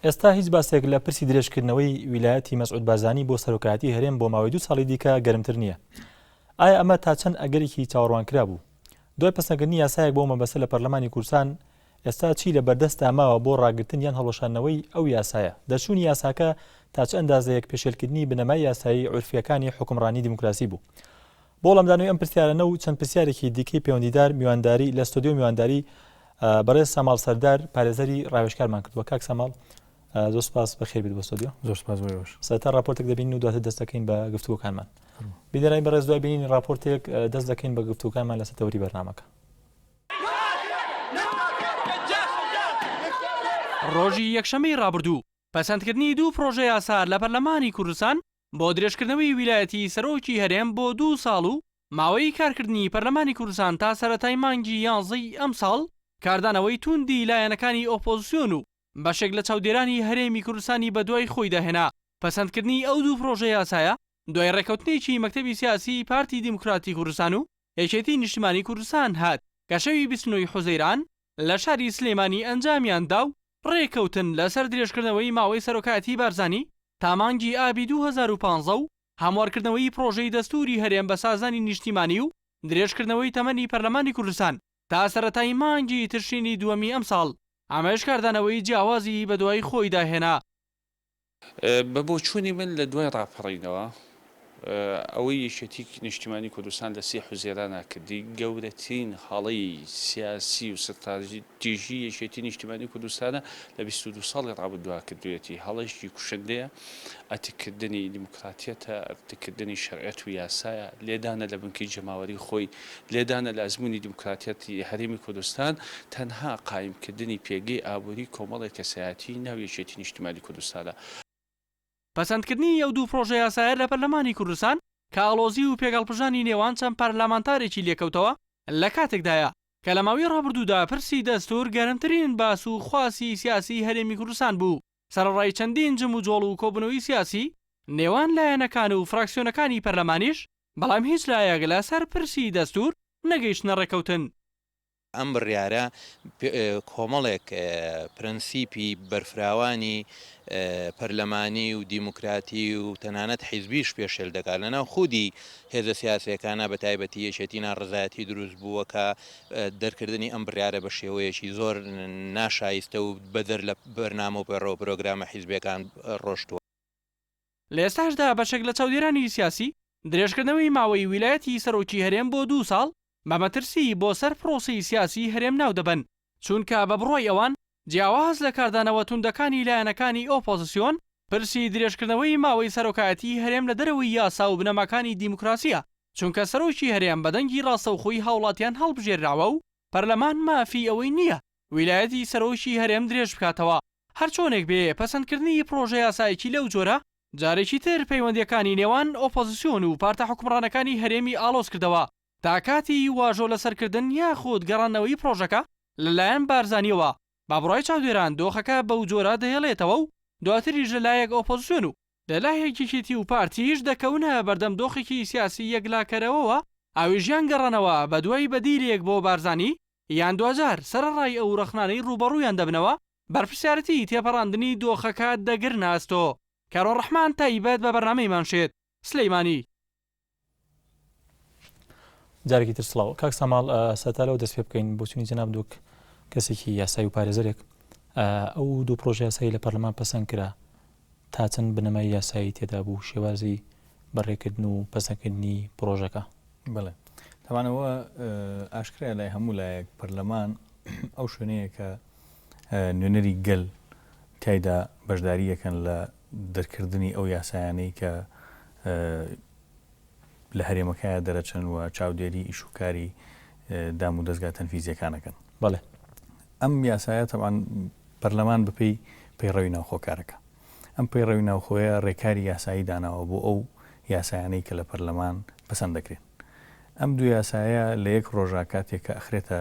ئێستا هیچ باسێک لە پرسی درێژکردنەوەی ویلایەتی مەسعود بارزانی بۆ سەرۆکایەتی هەرێم بۆ ماوەی دوو ساڵی دیکە گەرمتر نییە ئایا ئەمە تا چەند ئەگەرێکی چاوەڕوان کرا بوو دوای پسەکردنی یاسایەک بۆ مەبەسە لە پەرلەمانی کوردستان ئێستا چی لە بەردەستدا ماوە بۆ ڕاگرتن یان هەڵوەشانەوەی ئەو یاسایە دەرچوونی یاساکە تا چ ئەندازەیەک پێشێلکردنی بنەمای یاسایی عورفیەکانی حکمڕانی دیموکراسی بوو بۆ وەڵامدانەوەی ئەم پرسیارانە و چەند پرسیارێکی دیکەی پێوەندیدار میوانداری لە ستۆدیۆ میوانداری بەڕێز ساماڵ سەردار پارێزەری ڕاوێژکارمان کردووە کاک ساماڵ زۆر سپاس بەخێر بێت بۆ ستۆدیۆ زۆر سپاس سەتا ڕاپۆرتێک دەبین و دواتە دەست دەکەین بە گفتووەکانمان بیدەرای بەڕێز دوای بینین ڕاپۆرتێک دەست دەکەین بە گفتووکانمان لەسەر تەوری بەرنمەکە ڕۆژی یەکشەممەی ڕابردوو پەسەندکردنی دوو پرۆژە یاسا لە پەرلەمانی کوردستان بۆ درێژکردنەوەی ویلایەتی سەرۆکی هەرێم بۆ دوو ساڵ و ماوەی کارکردنی پەرلەمانی کوردستان تا سەرەتای مانگی یانزەی ئەمساڵ، کاردانەوەی تووندی لایەنەکانی ئۆپۆزسیۆن و بەشێک لە چاودێرانی هەرێمی کوردستانی بەدوای خۆیدا هێنا. پەسەندکردنی ئەو دوو پرۆژەیاسایە دوای رێککەوتنێکی مەکتەبی سیاسیی پارتی دیموکراتی کوردستان و یەکێتیی نیشتمانیی کوردستان هات، کە شەوی بیست و نۆ ی حوزەیران لە شاری سلێمانی ئەنجامیان دا و ڕێککەوتن لەسەر درێژکردنەوەی ماوەی سەرۆکایەتیی بارزانی تا مانگی ئابی دوو هەزار و پازدە و هەموارکردنەوەی پڕۆژەی دەستووری هەرێم بە سازانی نیشتیمانی و درێژکردنەوەی تەمەنی پەرلەمانی کوردستان تا سەرەتای مانگی تشرینی دووەمی ئەمساڵ ئەمەش کاردانەوەی جیاوازی بەدوای خۆیدا هێنا. بە بۆچوونی من لە دوای ڕاپەڕینەوە ئەوەی یەکێتی نیشتیمانی کوردستان لە سی حوزێرانا کردی گەورەترین هەڵەی سیاسی و ستراتیژی یەکێتی نیشتیمانی کوردستانە لە 22 ساڵی ڕابردووا کردوێتی هەڵەشتی کوشندەیە ئەتککردنی دیموکراتیەتە ئەتککردنی شەرعەت و یاسایە لێدانە لە بنکەی جەماوەری خۆی لێدانە لە ئەزموونی دیموکراتیەتی هەرێمی کوردستان، تەنها قایم کردنی پێگەی ئابووری کۆمەڵێک کەسایەتیی ناو یەکێتی نیشتیمانی کوردستانە. پەسەندکردنی ئەو دوو پڕۆژەیاسایە لە پەرلەمانی کوردستان کە ئاڵۆزی و پێکهەڵپژانی نێوان چەند پەرلەمانتارێکی لێکەوتەوە، لە کاتێکدایە کە لە ماوی ڕابردوودا پرسی دەستوور گەرمترین باس و خواسی سیاسیی هەرێمی کوردستان بوو. سەرەڕای چەندین جموجۆڵ و کۆبوونەوەی سیاسی نێوان لایەنەکان و فراکسیۆنەکانی پەرلەمانیش، بەڵام هیچ لایەک لەسەر پرسی دەستوور نەگەیشتنە ڕێککەوتن. ئەم بڕیارە کۆمەڵێک پرەنسیپی بەرفراوانی پەرلەمانی و دیموکراتی و تەنانەت حیزبیش پێشێل دەکات، لەناو خودی هێزە سیاسییەکانا بەتایبەتی یەکێتی ناڕەزایەتی دروست بووە کە دەرکردنی ئەم بڕیارە بە شێوەیەکی زۆر ناشایستە و بەدەر لە بەرنامە و پەڕە و پرۆگرامە حیزبیەکان ڕۆشتوە. لە ئێستاشدا بەشێک لە چاودێرانی سیاسی، درێژکردنەوەی ماوەی ویلایەتی سەرۆکی هەرێم بۆ دوو ساڵ بە مەترسی بۆ سەر پرۆسەی سیاسی هەرێم ناودەبەن، چونکە بە بڕوای ئەوان جیاواز لە کاردانەوە توندەکانی لایەنەکانی ئۆپۆزسیۆن، پرسی درێژکردنەوەی ماوەی سەرۆکایەتیی هەرێم لە دەرەوەی یاسا و بنەماکانی دیموکراسییە، چونکە سەرۆکی هەرێم بە دەنگی ڕاستەوخۆی هاوڵاتیان هەڵبژێرراوە و پەرلەمان مافی ئەوەی نییە ویلایەتی سەرۆکی هەرێم درێژ بکاتەوە. هەرچۆنێک بێ، پەسەندکردنی پڕۆژەیاسایەکی لەو جۆرە، جارێکی تر پەیوەندییەکانی نێوان ئۆپۆزسیۆن و پارتە حوکمڕانەکانی هەرێمی ئاڵۆز کردەوە تا کاتی واژۆ لەسەر کردن یاخود گەڕاندنەوەی پڕۆژەکە لەلایەن بارزانییەوە، بە بڕای چاودێران دۆخەکە بەوجۆرە دەهێڵێتەوە و دواتریش لەلایەک ئۆپۆزسیۆن و لەلایەک یەکێتی و پارتیش دەکەونە بەردەم دۆخێکی سیاسی یەکلاکەرەوەوە، ئەویش یان گەڕانەوە بەدوای بەدیلێک بۆ بارزانی یان دواجار سەرەڕای ئەو رەخنانەی رووبەڕوویان دەبنەوە، بەرپرسیارەتیی تێپەڕاندنی دۆخەکە دەگرنە ئەستۆ. کارۆ ڕەحمان تایبەت بە بەرنامەی مانشێت، سلیمانی. جارێکی تر سڵاو کاک ساماڵ سەتا لەو دەست پێ بکەین بۆچونی جناب دوک کەسێکی یاسای و پارێزەرێک ئەو دوو پرۆژه یاسایی لە پەرلەمان پەسەند کرا تا چەند بنەمای یاسایی تێدا بوو شێوازی بەڕێکردن و پەسەندکردنی پرۆژەکە بڵێ تاوانەوە ئاشکرای لای هەموو لایەک پەرلەمان ئەو شوێنەیە کە نوێنەری گەل تایدا بەشداریەکەن لە دەرکردنی ئەو یاسایانەی کە لە هەرێمەکایە دەرەچن و چاودێری ئیش و کاری دام و دەستگا تەنفیزیەکانەکەن. بەڵێ ئەم یاسایە تەوان پەرلەمان بپی پەیڕەوی ناوخۆکارەکە. ئەم پەیڕەوی ناوخۆیە ڕێکاری یاسایی داناوە بۆ ئەو یاسایانەی کە لە پەرلەمان پسند دەکرێن. ئەم دو یاسایە لە یەک ڕۆژا کاتێک کە ئەخرێتە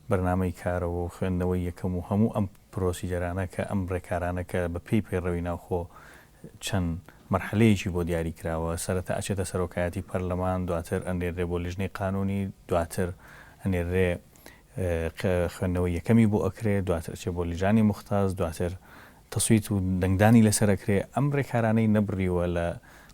بەرنامەی کارەوە و خوێندنەوەی یەکەم و هەموو ئەم پرۆسیجەرانە کە ئەم ڕێکارانە کە بە پێی پەیڕەوی ناوخۆ چەند مەرحەلەیەکی بۆ دیاری کراوە، سەرەتا ئەچێتە سەرۆکایەتی پەرلەمان، دواتر ئەنێررێ بۆ لیژنەی قانوونی، دواتر ئەنێررێ خوێندنەوەی یەکەمی بۆ ئەکرێ، دواتر ئەچێ بۆ لیژانی موختاز، دواتر تەسویت و دەنگدانی لەسەر ئەکرێ، ئەم ڕێکارانەی نەبڕیوە لە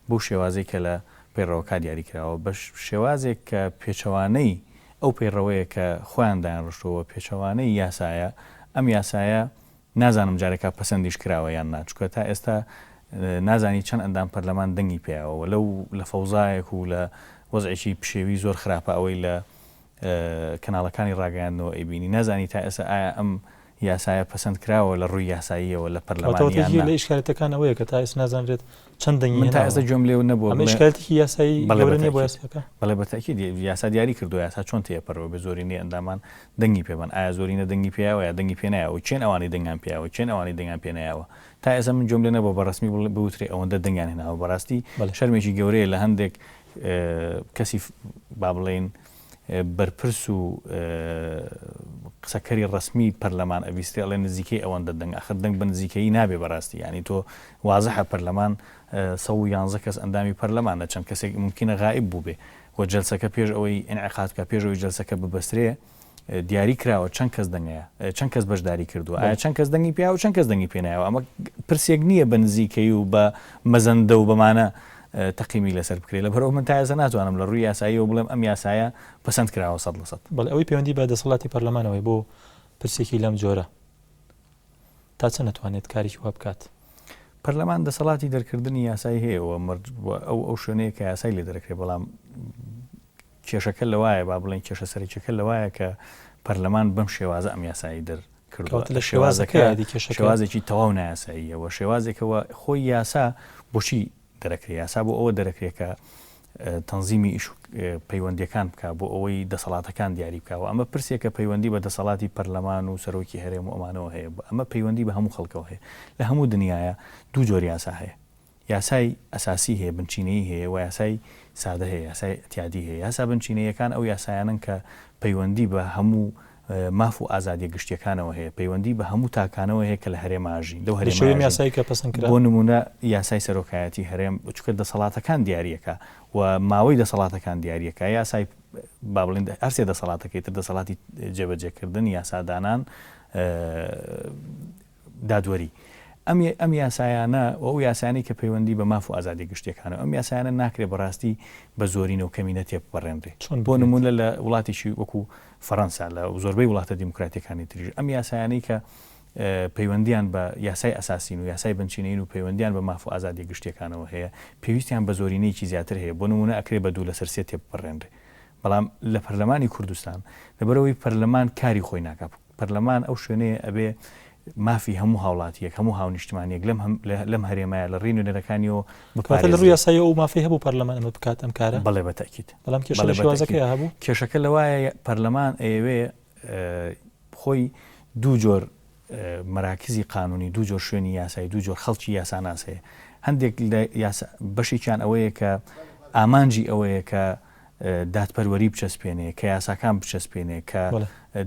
بەو شێوازەی کە لە پەیڕەوەکا دیاری کراوە، بە شێوازێک کە پێچەوانەی ئەو پەیڕەوەیە کە خۆیان دایانڕشتووە پێچەوانەی یاسایە، ئەم یاسایە نازانم جارێکا پەسەندیش کراوە یان نا، چونکە تا ئێستا نازانی چەند ئەندام پەرلەمان دەنگی پێیاوە و لەو لە فەوزایەک و لە وەزعێکی پشێوی زۆر خراپە ئەوەی لە کەناڵەکانی ڕاگەیاندنەوە ئەیبینی نازانی تا ئێستا ئایا ئەم یاسایە پەسەندکراوە لە ڕووی یاساییەوە لە پەرلەمان یان نا. واتە یەکێک لە ئیشکالەتەکان ئەوەیە کە تا ئێستا نازانرێت چەند دەنگی هێناوە. من تا ئێستا گوێم لێ نەبووە. ئەمە ئیشکالەتێکی یاسایی گەورە نییە بۆ یاساکە؟ بەڵێ بە تەئکید یاسا دیاری کردووە، یاسا چۆن تێپەرەوە بێت زۆرینەی ئەندامان دەنگی پێ بەن، ئایا زۆرینە دەنگی پێیاوە یا دەنگی پێ نایەوە، کێن ئەوانەی دەنگیان پێیاوە، کێن ئەوانەی دەنگیان پێ نایەوە؟ تا ئێستا من گوێم لێ نەبووە بە ڕەسمی بوترێ ئەوەندە دەنگیان هێناوە، بەڕاستی شەرمێکی گەورەیە لە هەندێک کەسی با بڵێین، بەرپرس و قسەکەری ڕەسمی پەرلەمان ئەبیسترێ ئەڵێ نزیکەی ئەوەندە دەنگ ئەخر دەنگ بە نزیکەیی نابێ بەڕاستی یعنی تۆ وازحە پەرلەمان سە و یانزە کەس ئەندامی پەرلەمانە چەند کەسێک ممکنە غائب بووبێ و جلسەکە پێش ئەوەی ئەنعقاد کە پێشەوەی جلسەکە ببەسترێ دیاری کراوە چەند کەس دەنگەیە چەند کەس بەشداری کردووە ئایا چەند کەس دەنگی پیا و چەند کەس دەنگی پێنایەوە ئەمە پرسێک نییە بە نزیکەی و بە مەزەندە و بەمانە تەقیمی لەسەر بکرێت، لەبەرئەوە من تا ئێستا ناتوانم لە ڕووی یاساییەوە بڵێم ئەم یاسایە پەسەند کراوە سەد لە سەد. بەڵێ ئەوەی پەیوەندی بە دەسەڵاتی پەرلەمانەوەی بۆ پرسێکی لەم جۆرە تا چەند ئەتوانێت کارێکی وا بکات؟ پەرلەمان دەسەڵاتی دەرکردنی یاسای هەیە و مەرج بووە ئەو ئەو شوێنەیە کە یاسای لێ دەرەکرێت بەڵام کێشەکە لەوایە، با بڵێین کێشە سەرەکیەکە لەوایە کە پەرلەمان بەم شێوازە ئەم یاسایەی دەر کردوە. کەواتە شێوازەکە کێشەکەیە کێشەکە. شێوازێکی تەواو نایاساییە و شێوازێکە و خۆی یاسا بۆچی دەرەکرێ؟ یاسا بۆ ئەوە دەرەکرێ کە تەنزیمی ئیش و پەیوەندیەکان بکە بۆ ئەوەی دەسەڵاتەکان دیاری بکەوە ئەمە پرسێکە پەیوەندی بە دەسەڵاتی پەرلەمان و سەرۆکی هەرێم و ئەمانەوە هەیە ئەمە پەیوەندی بە هەموو خەڵکەوە هەیە لە هەموو دنیاە دوو جۆر یاسا هەیە یاسای ئەساسی هەیە، بنچینەیی هەیە و یاسای سادە هەیە، یاسای ئیتیادی هەیە. یاسا بنچینەییەکان ئەو یاسایانەن کە پەیوەندی بە هەموو ماف و ئازادییە گشتییەکانەوە هەیە، پەیوەندی بە هەموو تاکانەوە هەیە کە لە هەرێمە ئاژین، لەو هەرێمە ئاژین. بۆ نموونە یاسای سەرۆکایەتی هەرێم، چونکە دەسەڵاتەکان دیارییەکا و ماوەی دەسەڵاتەکان دیارییەکا. یاسای، با بڵێین هەر سێ دەسەڵاتەکەی تر، دەسەڵاتی جێبەجێکردن، یاسادانان، دادوەری. ئەم ئەم یاسایانە و ئەو یاسایانەی کە پەیوەندی بە ماف و ئازادیە گشتیەکانە ئەم یاسایانە ناکرێ بە ڕاستی بە زۆرینە و کەمینە تێبپەڕێنرێ. چۆن بۆ بگرێت؟ نموونە لە وڵاتێکی وەکوو فەڕەنسا لە زۆربەی وڵاتە دیموکراتیەکانی تریش ئەم یاسایانەی کە پەیوەندیان بە یاسای ئەساسین و یاسای بنچینەیین و پەیوەندیان بە ماف و ئازادیە گشتیەکانەوە هەیە پێویستیان بە زۆرینەیەکی زیاتر هەیە بۆ نموونە ئەکرێ بە دوو لە سەر سێ تێبپەڕێنرێ بەڵام لە پەرلەمانی کوردستان لەبەرئەوەی پەرلەمان کاری خۆی ناکا پەرلەمان ئەو شوێنەیە ئەبێ مافی هەموو هاوڵاتیەک، هەموو هاونیشتمانیەک لەم لەم هەرێمە لە ڕێی نوێنەرەکانیەوە بپارێزێت. واتە لە ڕووی یاسایی ئەو مافەی هەبوو پەرلەمان ئەمە بکات ئەم کارە؟ بەڵێ بە تەئکید. بەڵام کێشە لە شێوازەکەیە هەبوو؟ کێشەکە لەوایە پەرلەمان ئەیەوێ خۆی دوو جۆر مەراکزی قانونی دوو جۆر شوێنی یاسایی دوو جۆر خەڵکی یاساناس هەیە هەندێک بەشێکیان ئەوەیە کە ئامانجی ئەوەیە کە دادپەروەری بچەسپێنێ، کە یاساکان بچەسپێنێ، کە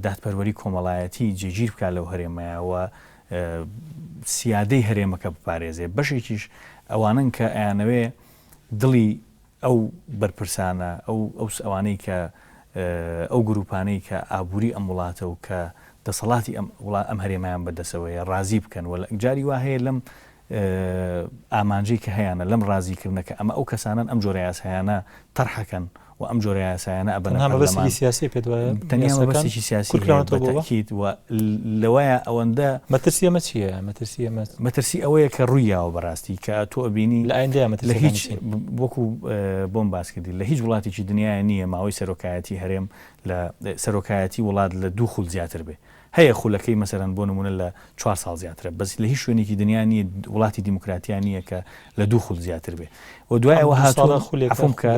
دادپەروەری کۆمەڵایەتی جێگیر بکات لەو هەرێمەیا و سیادەی هەرێمەکە بپارێزێ. بەشێکیش ئەوانەن کە ئەیانەوێ دڵی ئەو بەرپرسانە، ئەو ئەوانەی کە ئەو گرووپانەی کە ئابووری ئەم وڵاتە و کە دەسەڵاتی ئەم هەرێمەیان بەدەسەوەیە، ڕازی بکەن و جاری وا هەیە لەم ئامانجەی کە هەیانە لەم ڕازی کردنە کە ئەمە ئەو کەسانەن ئەم جۆرە یاسایانە تەرحەکەن و ئەم جۆرە یاسایانە ئەبەنە پەرلەمان. تەنها مەبەستێکی سیاسی پێت وایە یاساکان؟ تەنیا مەبەستێکی سیاسی هەیە بە تەئکید و لەوەیە ئەوەندە. مەترسی ئەمە چییە؟ مەترسی ئەمە. مەترسی ئەوەیە کە ڕووی یاوە بە ڕاستی کە تۆ ئەبینی. لە ئایندەیا مەترسیەکانی چین؟ لە هیچ وەکو بۆم باس کردی لە هیچ وڵاتێکی دنیایا نییە ماوەی سەرۆکایەتی هەرێم لە سەرۆکایەتی وڵات لە دوو خول زیاتر بێ. هەیە خولەکەی مەسەلەن بۆ نموونە لە چوار ساڵ زیاترە بەس لە هیچ شوێنێکی دنیا نییە وڵاتی دیموکراتیا نییە کە لە دوو خول زیاتر بێ و دوای ئەوە هاتوون عەفوم کە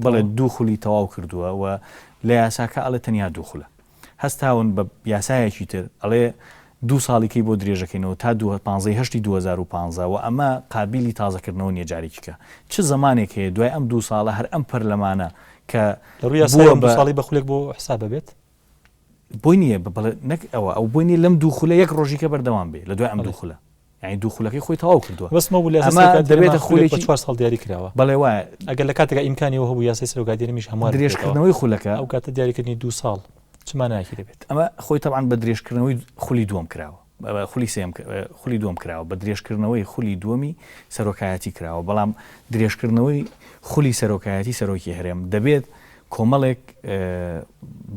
بەڵێ دوو خولی تەواو کردووە و لە یاساکە ئەڵێ تەنیا دوو خولە هەستاون بە یاسایەکی تر ئەڵێ دوو ساڵیکەی بۆ درێژەکەینەوە تا دووە پانزەی هەشتی 2015 و ئەمە قابلی تازەکردنەوە نیە جارێکیکە چ زمانێک هەیە دوای ئەم دوو ساڵە هەر ئەم پەرلەمانە کە لە ڕووی یاسای ئەم دوو ساڵی بە خولێک بۆ حساب بێت بۆی نییە بڵێ نەک ئەوە ئەو بۆی نیە لەم دوو خولە یەک ڕۆژیکە بەردەوام بێ لە دوای ئەم دوو خولە یعنی دوو خولەکەی خۆی تەواو کردووە بەسمە بوو ئەمە دەبێتە خولێکی چوار ساڵ دیاری کراوە بەڵێ وایە ئەگەر لە کاتێکا ئیمکانی هەبوو یاسای سەرۆکادێرمیش هەموو درێژکردنەوەی خولەکە ئەو کاتە دیاریکردنی دوو ساڵ چماناکی دەبێت ئەمە خۆی تەوان بە درێژکردنەوەی خولی دووەم کراوە خولی سێیەم خولی دووەم کراوە بە درێژکردنەوەی خولی دووەمی سەرۆکایەتی کراوە، بەڵام درێژکردنەوەی خولی سەرۆکایەتی سەرۆکی هەرێم دەبێت کۆمەڵێک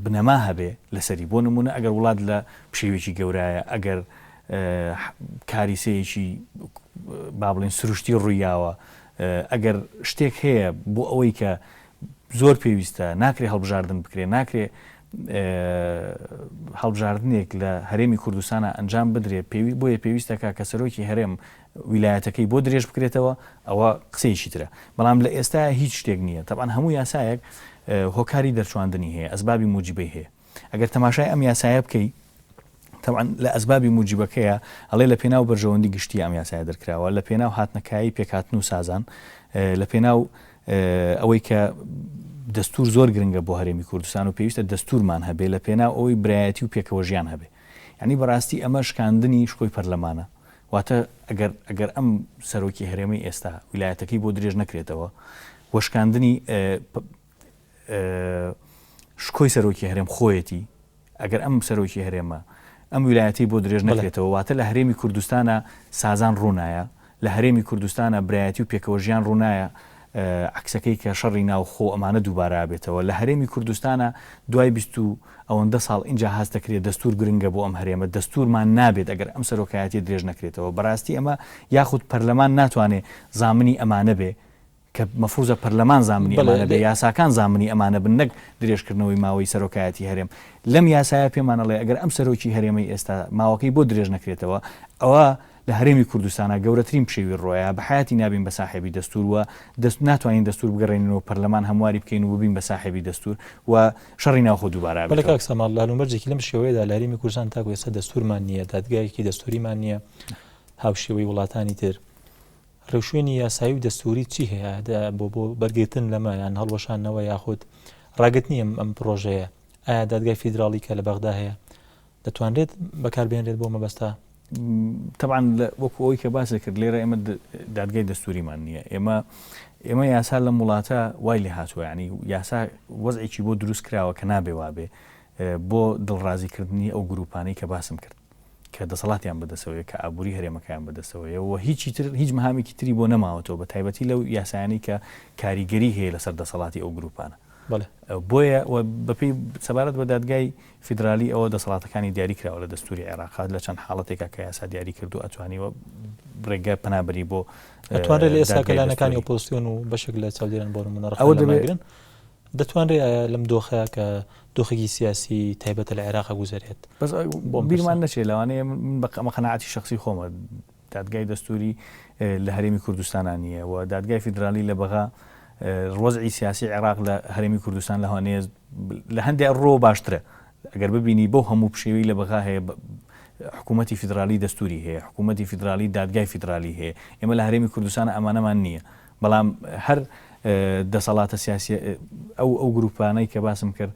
بنەما هەبێ لەسەری بۆ نمونە ئەگەر وڵات لە پشێوێکی گەورایە ئەگەر کاریسەیەکی با بڵێن سروشتی ڕوویاوە ئەگەر شتێک هەیە بۆ ئەوەی کە زۆر پێویستە، ناکرێ هەڵبژاردن بکرێ، ناکرێ هەڵبژاردنێک لە هەرێمی کوردستانا ئەنجام بدرێ، پێوی بۆیە پێویستەکە کە سەرۆکی هەرێم ویلایەتەکەی بۆ درێژ بکرێتەوە، ئەوە قسەیەکی ترە، بەڵام لە ئێستایا هیچ شتێک نییە، تەبعەن هەموو یاسایەک هۆکاری دەرچواندنی هەیە، ئەسبابی موجیبەی هەیە. ئەگەر تەماشای ئەم یاسایە بکەی تەبعەن لە ئەسبابی موجیبەکەیە ئەڵێ لە پێناو بەرژەوەندی گشتی ئەم یاسایە دەرکراوە لە پێناو هاتنە کایەی پێکهاتن و سازان لە پێناو ئەوەی کە دەستور زۆر گرنگە بۆ هەرێمی کوردستان و پێویستە دەستورمان هەبێ لە پێناو ئەوەی برایەتی و پێکەوە ژیان هەبێ ینی بەڕاستی ئەمە شکاندنی شکۆی پەرلەمانە واتە ئەگەر ئەگەر ئەم سەرۆکی هەرێمی ئێستا ویلایەتەکەی بۆ درێژ نەکرێتەوە وەشکاندنی شکۆی سەرۆکی هەرێم خۆیەتی ئەگەر ئەم سەرۆکی هەرێمە ئەم ویلایەتی بۆ درێژ نەکرێتەوە واتە لە هەرێمی کوردستانە سازان ڕوونایە لە هەرێمی کوردستانە برایەتی و پێکەوە ژیان ڕوونایە عکسەکەی کە شەڕی ناوخۆ ئەمانە دووبارە بێتەوە لە هەرێمی کوردستانە دوای بیست و ئەوەندە ساڵ اینجا هاست دەکرێت دەستور گرنگە بۆ ئەم هەرێمە دەستورمان نابێت ئەگەر ئەم سەرۆکایەتی درێژ نەکرێتەوە بەڕاستی ئەمە یاخود پەرلەمان ناتوانێت زامنی ئەمانە بێ کە مەفروزە پەرلەمان زامنی ئەمانە بێ یاساکان زامنی ئەمانە بن نەک درێژکردنەوەی ماوەی سەرۆکایەتی هەرێم لەم یاسایە پێمان ئەڵێ ئەگەر ئەم سەرۆکی هەرێمەی ئێستا ماوەکەی بۆ درێژ نەکرێتەوە ئەوا لە هەرێمی کوردستانا گەورەترین پشێوی ڕۆیە بە حیاتی نابین بە ساحێبی دەستور و دەست ناتوانین دەستور بگەڕێنینەوە پەرلەمان هەمواری بکەین و ببین بە ساحێبی دەستور و شەڕی ناوخۆ دووبارە بەلە کاک ساماڵ لالومەرجێکی لەم شێوەیەدا لە هەرێمی کوردستان تاکو ئێستا دەستورمان نییە دادگایەکی دەستوریمان نییە هاوشێوەی وڵاتانی تر ڕێوشوێنی یاسایی و دەستووری چی هەیە بۆ بەرگرتن لەمە یان هەڵوەشانەوە یاخود ڕاگرتنی ئەم ئەم پرۆژەیە ئایا دادگای فیدراڵی کە لە بەغدا هەیە دەتوانرێت بەکاربێنرێت بۆ مەبەستا تەبان وەکو ئەوی کە باس دەکرد لێرە ئێمە دادگای دەستوریمان نییە ئێمە ئێمە یاسا لەم وڵاتە وای لێ هاتووە ینی یاسا وەزێکی بۆ دروست کراوە کە نابێ وابێ بۆ دڵڕازیکردنی ئەو گروپانەی کە باسم کرد کە دەسەڵاتیان بەدەسەوەیە، کە ئابووری هەرێمەکەیان بەدەستەوەیە و هیچی تر، هیچ مهامێکی تری بۆ نەماوەتەوە، بەتایبەتی لەو یاسایانەی کە کاریگەری هەیە لەسەر دەسەڵاتی ئەو گرووپانە. بەڵێ. بۆیە و بەپێی سەبارەت بە دادگای فیدرالی ئەوە دەسەڵاتەکانی دیاری کراوە لە دەستووری عێراق، لە چەند حاڵەتێکا کە یاسا دیاری کردووە ئەتوانیوە ڕێگە پەنا بەری بۆ دادگای دەستووری. ئەتوانرێ لە ئێستا کە لایەنەکانی ئۆپۆزسیۆن و بەشێک لە چاودێران بۆ نموونە ڕەخنە لەمە بگرن، دەتوانرێ لەم دۆخەیا کە، دۆخێکی سیاسی تایبەتە لە عێراق ئەگوزەرێت. بەس بیرمان نەچێت لەوانەیە من بە قەناعەتی شەخسی خۆمە دادگای دەستووری لە هەرێمی کوردستانا نییە و دادگای فیدرالی لە بەغا ڕۆزعی سیاسی عێراق لە هەرێمی کوردستان لەوانەیە لە هەندێک ڕۆ باشترە ئەگەر ببینی بەو هەموو پشێوی لە بەغا هەیە حکوومەتتی فیدرالی دەستوری هەیە حکوومەتتی فیدرالی دادگای فیدرالی هەیە ئێمە لە هەرێمی کوردستان ئەمانەمان نییە بەڵام هەر دەسەڵاتە سیاسییە ئەو ئەو گرووپانەی کە باسم کرد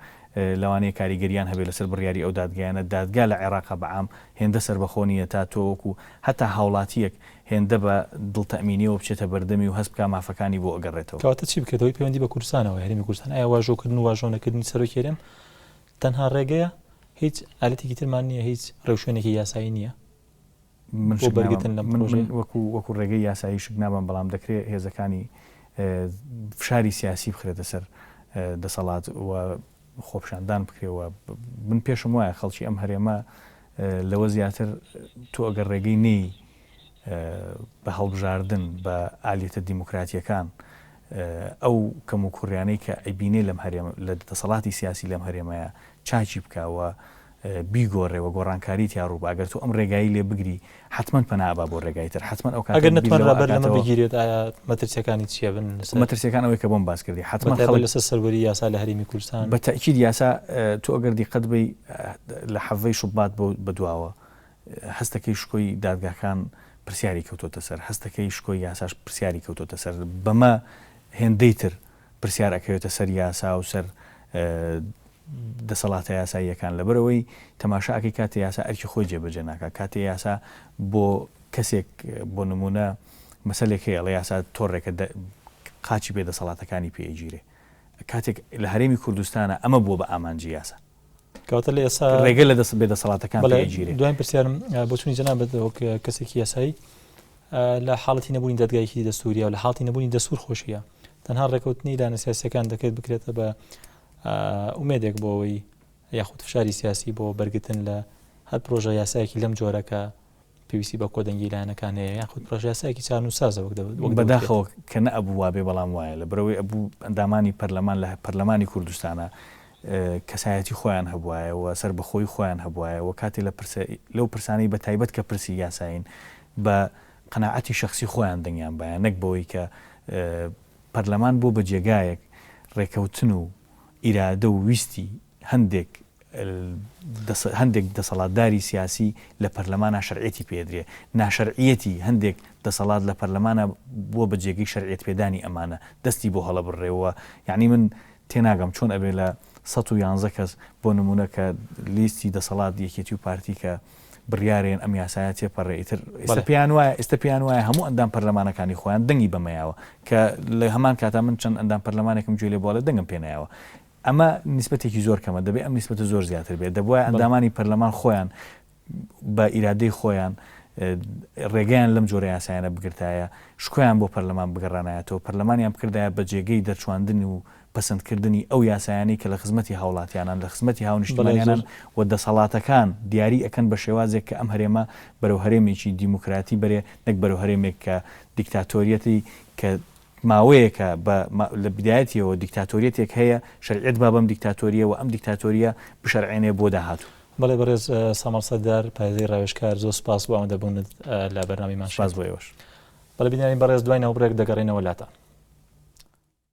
لەوانەیە کاریگەریان هەبێت لەسەر بڕیاری ئەو دادگایانە دادگا لە عێراقا بە عام هێندە سەربەخۆ نییە تا تۆ وەکوو هەتا هاوڵاتییەک هێندە بە دڵتەئمینییەوە بچێتە بەردەمی و هەست بکا مافەکانی بۆ ئەگەڕێتەوە. کەواتە چی بکرێت هۆی پەیوەندی بە کوردستانەوە هەرێمی کوردستان ئایا واژۆکردن و واژۆنەکردنی سەرۆکی هەرێم تەنها ڕێگەیە هیچ ئالەتێکی ترمان نییە هیچ ڕێوشوێنێکی یاسایی نییە؟ بۆ بەرگرتن لەم پرۆژەیە؟ من وەکو ڕێگەی یاسایی شک نابەم، بەڵام دەکرێت هێزەکانی فشاری سیاسی بخرێتە سەر دەسەڵات و خۆپیشاندان بکرێت و من پێشم وایە خەڵکی ئەم هەرێمە لەوە زیاتر تۆ ئەگەر ڕێگەی نەی بە هەڵبژاردن بە ئالیتە دیموکراتیەکان ئەو کەم و کوڕیانەی کە ئەیبینێ لەم هەرێم لە دەسەڵاتی سیاسی لەم هەرێمەیە چاچی بکەوە بیگۆرێ وە گۆڕانکاری تیا ڕوو با گەر تۆ ئەم ڕێگایی لێ بگری حەتمەن پەنا ئەبا بۆ ڕێگای تر حەتمەن ئەو کاتە ئەگەر بیر نەتوانرا لەوە بەر لەمە ئەکاتەوە بگیرێت ئایا مەترسیەکانی چیە بن لەسەر مەترسیەکان ئەوەی کە بۆم باس کردی بە حەتمەن تایبەت خەڵک لەسەر سەروەری یاسا لە هەرێمی کوردستان بە تەئکید یاسا ئە، تۆ ئەگەر دیقەت بەی لە حەڤەی شوبات بۆ بە دواوە ئە، هەستەکەی شکۆی دادگاکان پرسیاری کەوتۆتە سەر هەستەکەی شکۆی یاساش پرسیاری کەوتۆتە سەر بەمە هێندەی تر پرسیار ئەکەوێتە سەر یاسا و سەر دەسەڵاتە یاساییەکان لەبەرئەوەی تەماشا ئەکەی کاتێ یاسا ئەرکی خۆی جێبەجێ ناکات کاتێ یاسا بۆ کەسێک بۆ نمونە مەسەلێک هەیە ئەڵێ یاسا تۆڕێکە قاچی پێ دەسەڵاتەکانی پێ ئەگیرێ کاتێک لە هەرێمی کوردستانە ئەمە بووە بە ئامانجی یاسا. کەواتە لە ئێستا ڕێگە لە دەست بێ دەسەڵاتەکان بەڵێ ئەگیرێ. دوایین پرسیارم آه، بۆچوونی جەنابت وەک آه، کەسێکی یاسایی آه، لە حاڵەتی نەبوونی دادگایەکی دەستوریە و لە حاڵەتی نەبوونی دەستور خۆشیە تەنها ڕێکەوتنی لایەنە سیاسیەکان دەکرێت بکرێتە بە آه، ئومێدێک بۆ ئەوەی یاخود فشاری سیاسی بۆ بەرگتن لە هەر پرۆژە یاسایەکی لەم جۆرە کە پێویستی بە کۆدەنگی لایەنەکان هەیە یاخود پرۆژەیاسایەکی چارنووسسازە وەک دەبێت وەک بەداخەوە کە نەئەبوو وابێ بەڵام وایە لەبەرەوەی ئەبوو ئەندامانی پەرلەمان لە پەرلەمانی کوردستانە کەسایەتی خۆیان هەبوایە و سەربەخۆی خۆیان هەبوایە و کاتێ لە پرسە لەو پرسانەی بە تایبەت کە پرسی یاسایین بە قەنەعەتی شخصی خۆیان دەنگیان بایە نەک بەوەی کە پەرلەمان بۆ بە جێگایەک ڕێکەوتن و ئیرادە و ویستی هەندێک هەندێک دەسەڵاتداری سیاسی لە پەرلەمانا شەرعێتی پێ ئەدرێ، ناشەرعیەتی هەندێک دەسەڵات لە پەرلەمانا بووە بە جێگەی شەرعێت پێدانی ئەمانە دەستی بۆ هەڵەبررێ و یانی من تێناگەم چۆن ئەبێ لە سەد و یانزە کەس بۆ نموونە کە لیستی دەسەڵات یەکێتی و پارتی کە بڕیارێن ئەم یاسایە تێپەڕێ ئیتر ئێستا پێیان وایە ئێستا پێیان وایە هەموو ئەندام پەرلەمانەکانی خۆیان دەنگی بەمەیاوە کە لە هەمان کاتا من چەند ئەندام پەرلەمانێکم گوێ لێ بووە ئەڵێ دەنگم پێ نایەوە ئەمە نیسبەتێکی زۆر کەمە دەبێ ئەم نیسبەتە زۆر زیاتر بێت دەبواە ئەندامانی پەرلەمان خۆیان بە ئیرادەی خۆیان ڕێگەیان لەم جۆرە یاسایانە بگرتایە شکۆیان بۆ پەرلەمان بگەڕانایەتەوە پەرلەمانیان بکردایە بە جێگەی دەرچواندن و پەسەندکردنی ئەو یاسایانەی کە لە خزمەتی هاوڵاتیانان، لە خزمەتی هاونیشتمانیانان و دەسەڵاتەکان دیاری ئەکەن بە شێوازێک کە ئەم هەرێمە بەرەو هەرێمێکی دیموکراتی بەرێ نەک بەرەو هەرێمێک کە دیکتاتۆریەتی کە ماوەیەکە بە لە بدایەتیەوە دیکتاتۆریەتێک هەیە شەرعیەت با بەم دیکتاتۆریە وە ئەم دیکتاتۆریە بشەرعێنێ بۆ داهاتوو. بەڵێ بەڕێز سامەڵ سەردار پارێزەری ڕاوێژکار زۆر سوپاس بۆ ئامادەبوونت لە بەرنامەی ماشێن. سوپاس بۆ ئێوەش. بەڵێ بینەرانی بەڕێز دوای ناوبڕێک دەگەڕێنەوە لاتان.